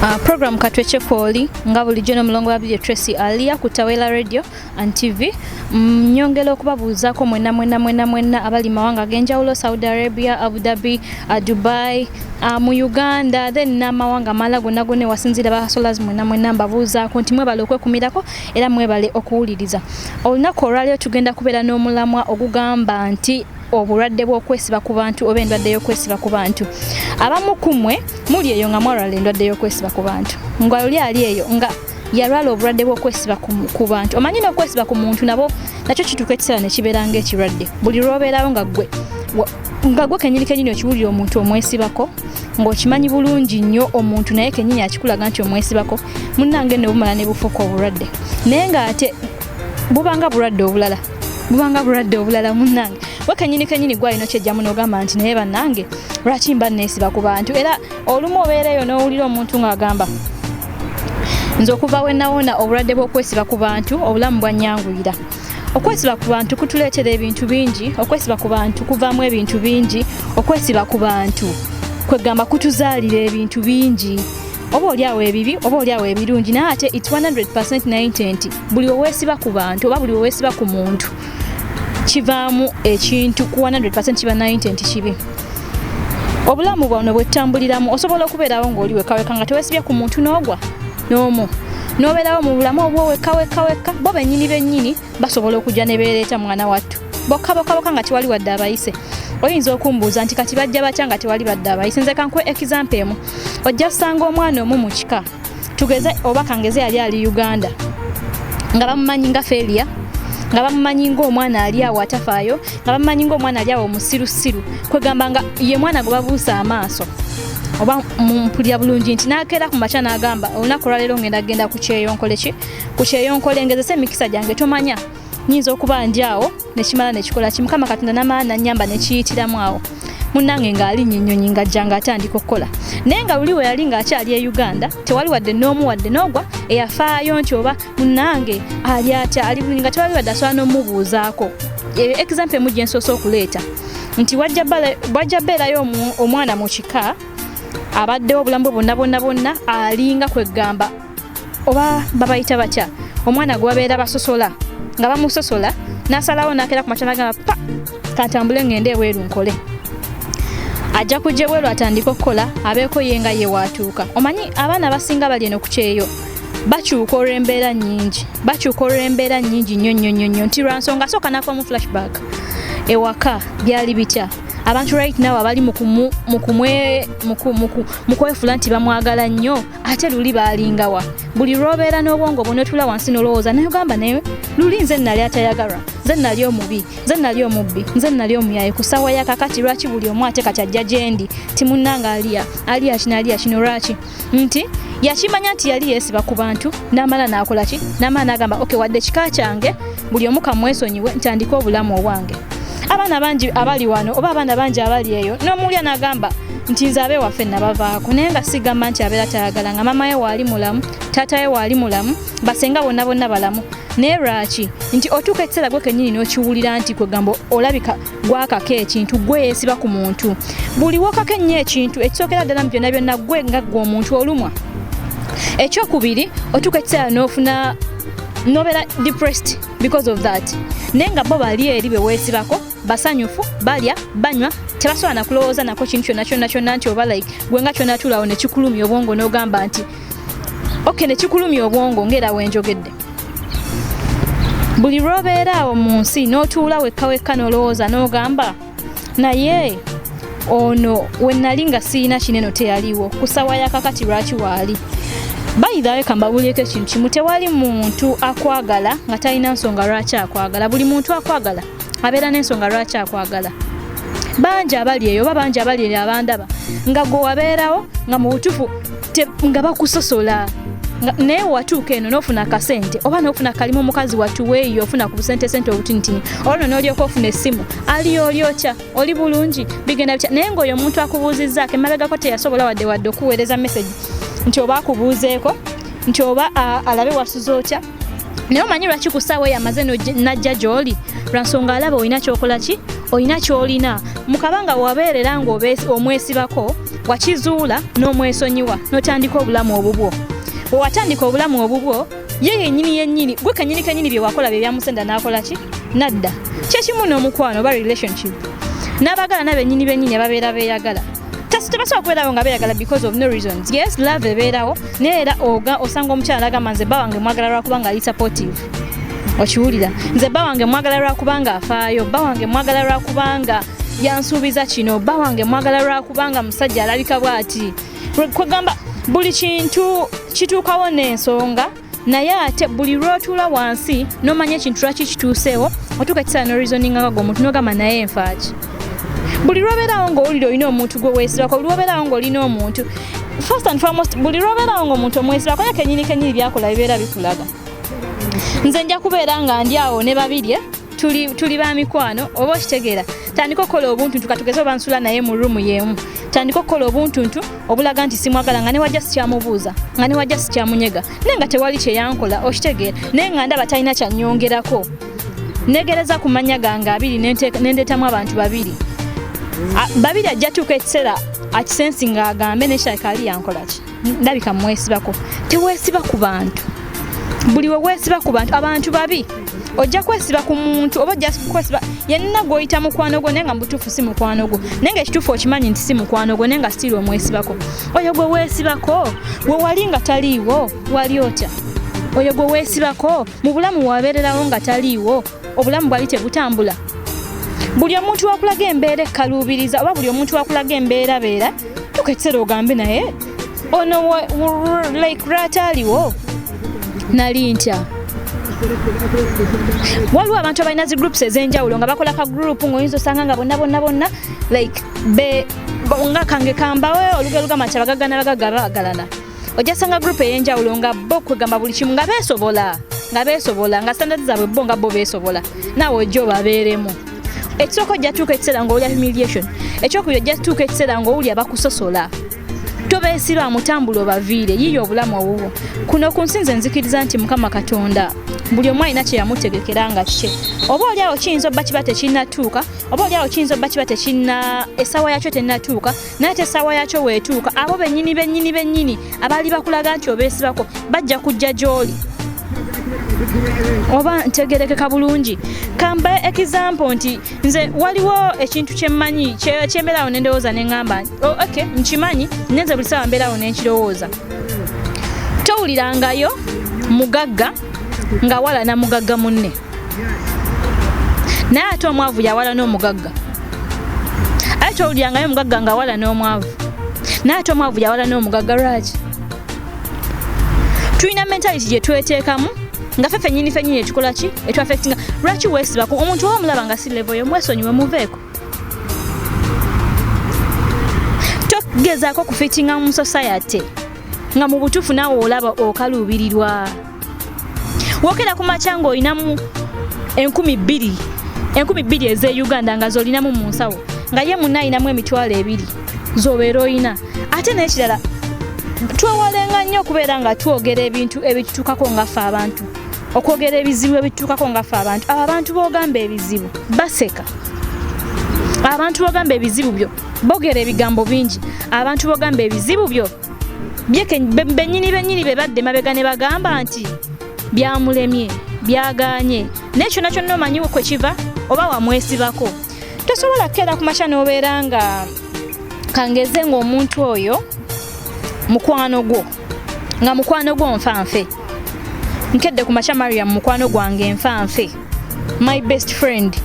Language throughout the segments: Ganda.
Uh, program katwekye kwoli nga bulijjo nomulongo wa bidyo tracy alia ku tawela radio and tv mm, nyongera okubabuuzaako mwena mwena mwena mwena abali mawanga agenjawulo saudi arabia abu dhabi uh, dubai uh, mu uganda then n'amawanga amala gonna gonna ewasinziira basolas mwena mwena mbabuuzaako nti mwebala okwekumirako era mwebale okuwuliriza olunaku olwaliro tugenda kubeera n'omulamwa ogugamba nti obulwadde bw'okwesiba ku bantu oba endwadde y'okwesiba ku bantu abamu ku mwe muli eyo nga mwalwala endwadde y'okwesiba ku bantu nga oli ali eyo nga yalwala obulwadde bw'okwesiba ku bantu omanyi n'okwesiba ku muntu nabo nakyo kituuka ekiseera ne kibeera ng'ekirwadde buli lw'obeerawo nga ggwe nga gwe kenyini kenyini okiwulira omuntu omwesibako ng'okimanyi bulungi nnyo omuntu naye kenyini akikulaga nti omwesibako munnange ne bumala ne bufuuka obulwadde naye ng'ate bubanga bulwadde obulala bubanga bulwadde obulala munnange we kenyini kenyini gwalina okyejjamu n'ogamba nti naye bannange lwaki mba neesiba ku bantu era olumu obeereeyo n'owulira omuntu ng'agamba nze okuva we nawona obulwadde bw'okwesiba ku bantu obulamu bwannyanguyira okwesiba ku bantu kutuleetera ebintu bingi okwesiba ku bantu kuvaamu ebintu bingi okwesiba ku bantu kwegamba kutuzaalira ebintu bingi oba olyawo ebibi oba olyawo ebirungi naye ate its 100 naye nti nti buli wewesiba ku bantu oba buli wewesiba ku muntu kivaamu ekintu ku 100 kiba 90 nti kibi obulamu bwano bwetutambuliramu osobola okubeerawo ng'oli wekaweka nga tewesibye ku muntu n'ogwa n'omu n'obeerawo mu bulamu obwo wekka wekka wekka bo bennyini bennyini basobola okujja ne beereeta mwana wattu bokka bokka bokka nga tewali wadde abayise oyinza okumbuuza nti kati bajja batya nga tewali badde abayise nze kankuwa ekizampa emu ojja kusanga omwana omu mu kika tugeze oba kangeze yali ali uganda nga bamumanyi nga feria nga bamumanyi ngaomwana ali awo atafaayo nga bamanyi ngaomwana ali awo omusirusiru kwegamba nga ye mwana gwe babuusa amaaso oba mpulira bulungi nti nakeera ku makya nagamba olunaku olwaleero ngenda kugenda ku kyeyo nkole ki ku kyeyo nkole ngezesa emikisa gyange tomanya nyinza okuba ndi awo nekimala nekikola ki mukama katonda namaani nanyamba nekiyitiramu awo munange ng'alinya ennyonyi ng'ajja ng'atandika okukola naye nga luli we yali ng'akyali e uganda tewali wadde n'omu wadde n'ogwa eyafaayo nti oba munange ali atya ali bulungi nga tebabi badde asobola n'omubuuzaako eyo example emu gye nsoose okuleeta nti wajja beerayo omwana mu kika abaddewo obulamu bwe bonna bonna bonna alinga kwegamba oba babayita batya omwana gwe babeera basosola nga bamusosola n'asalawo n'akeera ku matana gamba pa kantambule ngende ebweru nkole ajja kujja ebweru atandika okukola abeeko ye nga ye waatuuka omanyi abaana abasinga bali eno ku kyeyo bakyuka olw'embeera nnyingi bakyuka olw'embeera nnyingi nnyo nnyo nnyo nnyo nti lwa nsonga sooka nakuba mu flashback ewaka byali bitya abantu right now abali mu kwefula nti bamwagala nnyo ate luli baalingawa buli lwobeera n'obwongo bwonotula wansi nolowooza naye ogamba naye luli nze nali atayagalwa nze nali omubi nze nali omubbi nze nali omuyaye ku saawa yakakati lwaki buli omu ate kati ajja gyendi timunanga aliya aliya kino aliya kino lwaki nti yakimanya nti yali yeesiba ku bantu n'amala n'akola ki n'amala n'agamba oke wadde kika kyange buli omu kamwesonyiwe ntandike obulamu obwange abaana bangi abali wano oba abaana bangi abali eyo n'omuwulya n'agamba nti nze abe waffe nabavaako naye nga sigamba nti abeera tayagala nga mama ye waali mulamu taata ye waali mulamu basenga bonna bonna balamu naye lwaki nti otuuka ekiseera gwe kenyini n'okiwulira nti kwegamba olabika gwakako ekintu gwe yesiba ku muntu buli wokako ennyo ekintu ekisookera ddala mu byonna byonna gwe nga gwe omuntu olumwa ekyokubiri otuuka ekiseera n'ofuna nobeera depressed because of that naye nga bo bali eri be weesibako basanyufu balya banywa tebasobola nakulowooza nako kintu kyonna kyonna kyonna nti oba like gwe nga kyonatuulawo nekikulumya obwongo n'ogamba nti okay nekikulumya obwongo ngaera wenjogedde buli lw'obeera awo mu nsi n'otuula wekka wekka n'olowooza n'ogamba naye ono we nali nga sirina kineno teyaliwo ku ssaawa yakakati lwaki waali bayidhawe kambabulyeko ekintu kimu tewali muntu akwagala nga talina nsonga lwaki akwagala buli muntu akwagala abeera n'ensonga lwaki akwagala bangi abali eyo oba bangi abali eyo abandaba nga gwe wabeerawo nga mu butufu nga bakusosola naye watuuka eno nofuna akasente oba nofuna kalimu omukazi watuweeyo ofuna ku busente sente obutinitini olwo nolyoka ofuna esimu ali olyokya oli bulungi bigenda bitya naye ngaoyo omuntu akubuuzizzaako emabegako teyasobola wadde wadde okuweereza message nti oba akubuuzeeko nti oba alabe wasuza otya naye omanyi lwaki ku ssaawa eyo amaze najja gy'oli lwa nsonga alaba olina kyokola ki olina kyolina mukabanga wabeerera ng'omwesibako wakizuula n'omwesonyiwa n'otandika obulamu obubwo wewatandika obulamu obubwo ye yenyini yenyini gwe kanyini kanyini byewakola byebyamusenda nakola ki nadda kyekimu n'omukwano oba relationship n'abagala nabenyini benyini ababeera beyagala just tebasobola kubeerawo nga beeyagala because of no reasons yes love ebeerawo naye era oga osanga omukyala agamba nze bba wange mwagala lwakuba nga ali supportive okiwulira nze bba wange mwagala lwakuba nga afaayo bba wange mwagala lwakuba nga yansuubiza kino bba wange mwagala lwakuba nga musajja alabika bwati kwegamba buli kintu kituukawo n'ensonga naye ate buli lwotula wansi nomanya ekintu lwaki kituuseewo otuuka ekisaala norizoningakaga omuntu nogamba naye enfaaki buli lwobeerawo ngaowulira olina omuntu gwe weesibako buli lwobeerawo ngaolina omuntu first and foremost buli lwobeerawo ngaomuntu omwesibako ye kenyini kenyini byakola bibeera bikulaga nze nja kubeera nga ndi awo ne babirye tuli, tuli ba mikwano oba okitegeera tandika okukola obuntuntu katugeze oba nsula naye mu ruumu yeemu tandika okukola obuntuntu obulaga nti simwagala nga newajja sikyamubuuza nga newajja sikyamunyega naye nga tewali kyeyankola okitegeera naye nga ndaba talina kyanyongerako negereza ku mannya gange abiri nendeetamu abantu babiri babiri ajja tuuka ekiseera akisensi ng'agambe nekiralika ali yankolaki ndabika mwesibako tewesiba ku bantu buli wewesiba ku bantu abantu babi ojja kwesiba ku muntu oba ojja kwesiba yenna gwoyita mukwano gwo naye nga mubutuufu si mukwano gwo naye nga ekituufu okimanyi nti si mukwano gwo naye nga sitiiri omwesibako oyo gwe weesibako gwe wali nga taliiwo wali otya oyo gwe weesibako mu bulamu wabeererawo nga taliiwo obulamu bwali tebutambula buli omuntu wakulaga embeera ekkaluubiriza oba buli omuntu wakulaga embeera beera tuka ekiseera ogambe naye ono like rata aliwo nali ntya waliwo abantu abalina zi groups ez'enjawulo nga bakola ka group ng'oyinza osanga nga bonna bonna bonna like be nga kange kambawe olugero lugamba nti abagagana bagagga bagalana ojja sanga group eyenjawulo nga bo kwegamba buli kimu nga beesobola nga beesobola nga standard zaabwe bo nga bo beesobola naawe ojja obabeeremu ekisooka ojja tuuka ekiseera ngaowulya humiliation ekyokubiri ojja tuuka ekiseera ngaowulya bakusosola tobeesirwa mutambula obaviire yiiya obulamu owuwo kuno ku nsi nze nzikiriza nti mukama katonda buli omu alina kye yamutegekera nga kye oba oli awo kiyinza obba kiba tekinnatuuka oba oli awo kiyinza obba kiba tekinna essaawa yakyo tennatuuka naye te essaawa yakyo weetuuka abo bennyini bennyini bennyini abaali bakulaga nti obeesibako bajja kujja gy'oli oba ntegerekeka bulungi kambe example nti nze waliwo ekintu kyemmanyi kyembeerawo nendowooza neŋamba oh, ok nkimanyi naye nze buli saawa mbeerawo nenkirowooza towulirangayo mugagga ngawalana mugagga munne naye ate omwavu yawala n'omugagga aye towulirangayo omugagga nga awala n'omwavu naye ate omwavu yawala n'omugagga lwaki tulina mentality gye tweteekamu nga fe fenyini fenyini ekikola ki etwafectinga lwaki wesibaku omuntu oba omulaba nga si levo yo mwesonyiwe muveeko togezaako okufitinga mu society nga mu butuufu naawe olaba okaluubirirwa wokera ku makya ng'olinamu enkumi bbiri enkumi bbiri ez'e uganda nga z'olinamu mu nsawo nga ye munna alinamu emitwalo ebiri z'obeera olina ate n'ekirala twewalenga nnyo okubeera nga twogera ebintu ebitutuukako ngaffe abantu okwogera ebizibu ebitutuukako ngaffe abantu abo abantu b'ogamba ebizibu baseka abantu b'ogamba ebizibu byo bogera ebigambo bingi abantu b'ogamba ebizibu byo benyini benyini bebadde mabega ne bagamba nti byamulemye byaganye naye kyona kyonna omanyiwo kwe kiva oba wamwesibako tosobola kukeera ku makya n'obeera nga kangeze ng'omuntu oyo mukwano gwo nga mukwano gwo nfanfe nkedde ku makya mariam mukwano gwange nfanfe my best friend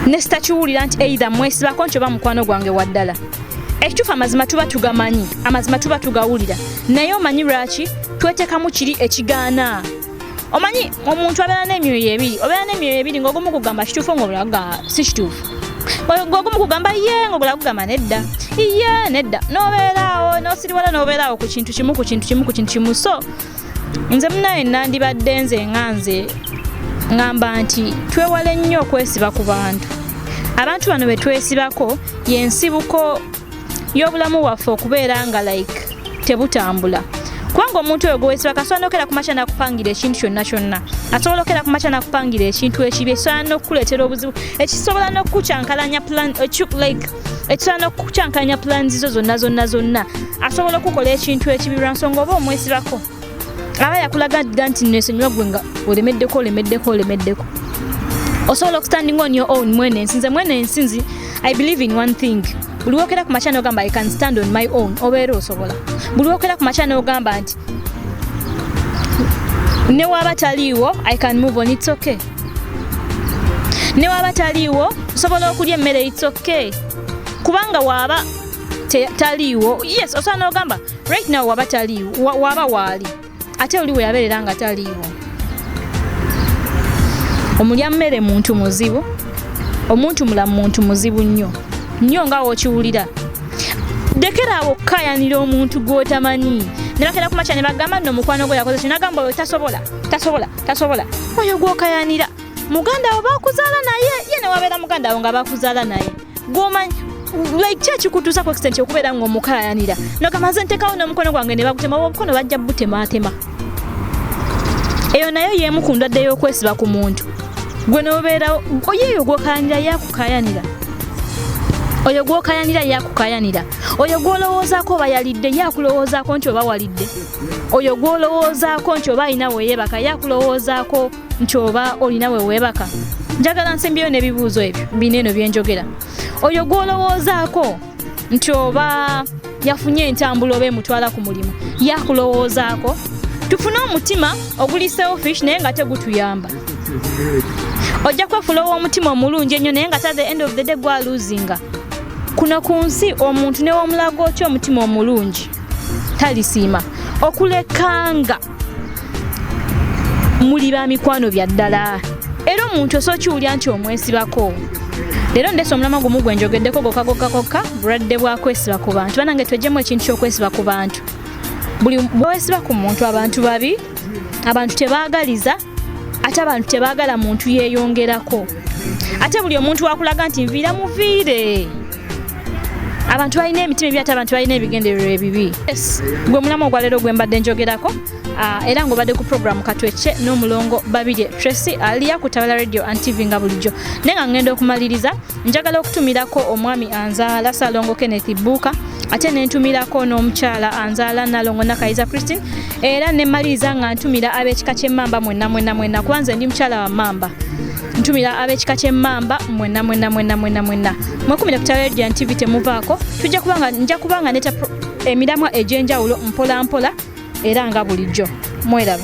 nesitakiwulira nti eitha mwesibako nti oba mukwano gwange waddala ekituufu amazima tuba tugamanyi amazima tuba tugawulira naye omanyi lwaki twetekamu kiri ekigaana omanyi omuntu abeera n'emyoyo ebiri obeera n'emyoyo ebiri ngaogumu kugamba kituufu ngaobulaga si kituufu ngaogumu kugamba ye ngaobula kugamba nedda iye nedda nobeeraawo nosiriwala nobeeraawo ku kintu kimu ku kintu kimu ku kintu kimu so nze munaye nandibadde nze nga nze ngamba nti twewale nnyo okwesiba ku bantu abantu bano betwesibako yensibuko y'obulamu bwaffe okubeera nga like tebutambula kubanga omuntu oyo gwewesiba kasobola nokera kumakya nakupangira ekintu kyonna kyonna asobola okera kumakya nakupangira ekintu ekibi ekisobola nokukuleetera obuzibu ekisobola nokukukyankalanya plan like ekisaana okukyankalanya pulaanizi zo zonna zonna zonna asobola okukola ekintu ekibi lwa nsonga oba omwesibako aba yakulaga dda nti nesonyiwa gwe nga olemeddeko olemeddeko olemeddeko osobola okustanding on your own mwene ensi nze mwene ensi nzi i believe in one thing buli wokera ku makya nogamba i can stand on my own obeera osobola buli wokera ku makya nogamba nti newaba taliiwo i can move on its okay ne waba taliiwo osobola okulya emmere its okay kubanga waaba taliiwo yes osobola n'ogamba right now waba taliiwo waaba waali ate oli we yabeerera nga taliiwo omulya mmere muntu muzibu omuntu mulamu muntu muzibu nnyo nnyo nga wokiwulira dekera awo okukayanira omuntu gwotamanyi nebakera kumakya nebagamba nno omukwano gwe yakoze kinagamba oyo tasobola tasobola tasobola oyo gwokayanira muganda wo bakuzaala naye ye newabeera muganda wo nga bakuzaala naye gwomanyi like ki ekikutuusa ku extent okubeera nga omukayanira nogamba nze ntekawo n'omukono gwange ne bagutema oba omukono bajja butematema eyo nayo yeemu ku ndwadde y'okwesiba ku muntu gwe nobeerawo oyo eyo gwokayanira yakukayanira oyo gwokayanira yakukayanira oyo gwolowoozaako oba yalidde yakulowoozaako nti oba walidde oyo gwolowoozaako nti oba alina weyeebaka ye akulowoozaako nti oba olina weweebaka njagala nsimbyeyo n'ebibuuzo ebyo bino eno byenjogera oyo gwolowoozaako nti oba yafunye entambula oba emutwala ku mulimu ye akulowoozaako tufune omutima oguli selfish naye nga tegutuyamba ojja kwefuula ow'omutima omulungi ennyo naye nga ta the end of the day gwaluzinga kuno ku nsi omuntu newomulaga otya omutima omulungi talisiima okulekanga muli ba mikwano bya ddala era omuntu osobola kiwulira nti omwesibako leero ndese omulama gumu gwe njogeddeko gokka gokka kokka bulwadde bwa kwesiba ku bantu banange twejjemu ekintu ky'okwesiba ku bantu buli bwewesiba ku muntu abantu babi abantu tebaagaliza ate abantu tebagala muntu yeyongerako ate buli omuntu wakulaga nti nviira muviire abantu balina emitima ebyate abantu balina ebigendererwa ebibi gwe mulamu ogwaleero gwe mbadde njogerako ah, era ngaobadde ku programu katwece n'omulongo babirye tracy aliya ku tabala radio and tv nga bulijjo naye nga ngenda okumaliriza njagala okutumirako omwami anzaala salongo kenneth buuka ate nentumirako n'omukyala anzaala nalongo nakayiza christine era nemaliriza nga ntumira ab'ekika ky'emmamba mwenna mwenna mwenna kuba nze ndi mukyala wa mmamba ntumira ab'ekika ky'emmamba mwenna mwenna mwenna mwenna mwenna mwekumire ku taledia tv temuvaako tujja kubanga nja kubanga neta emiramwa egy'enjawulo mpola mpola era nga bulijjo mweraba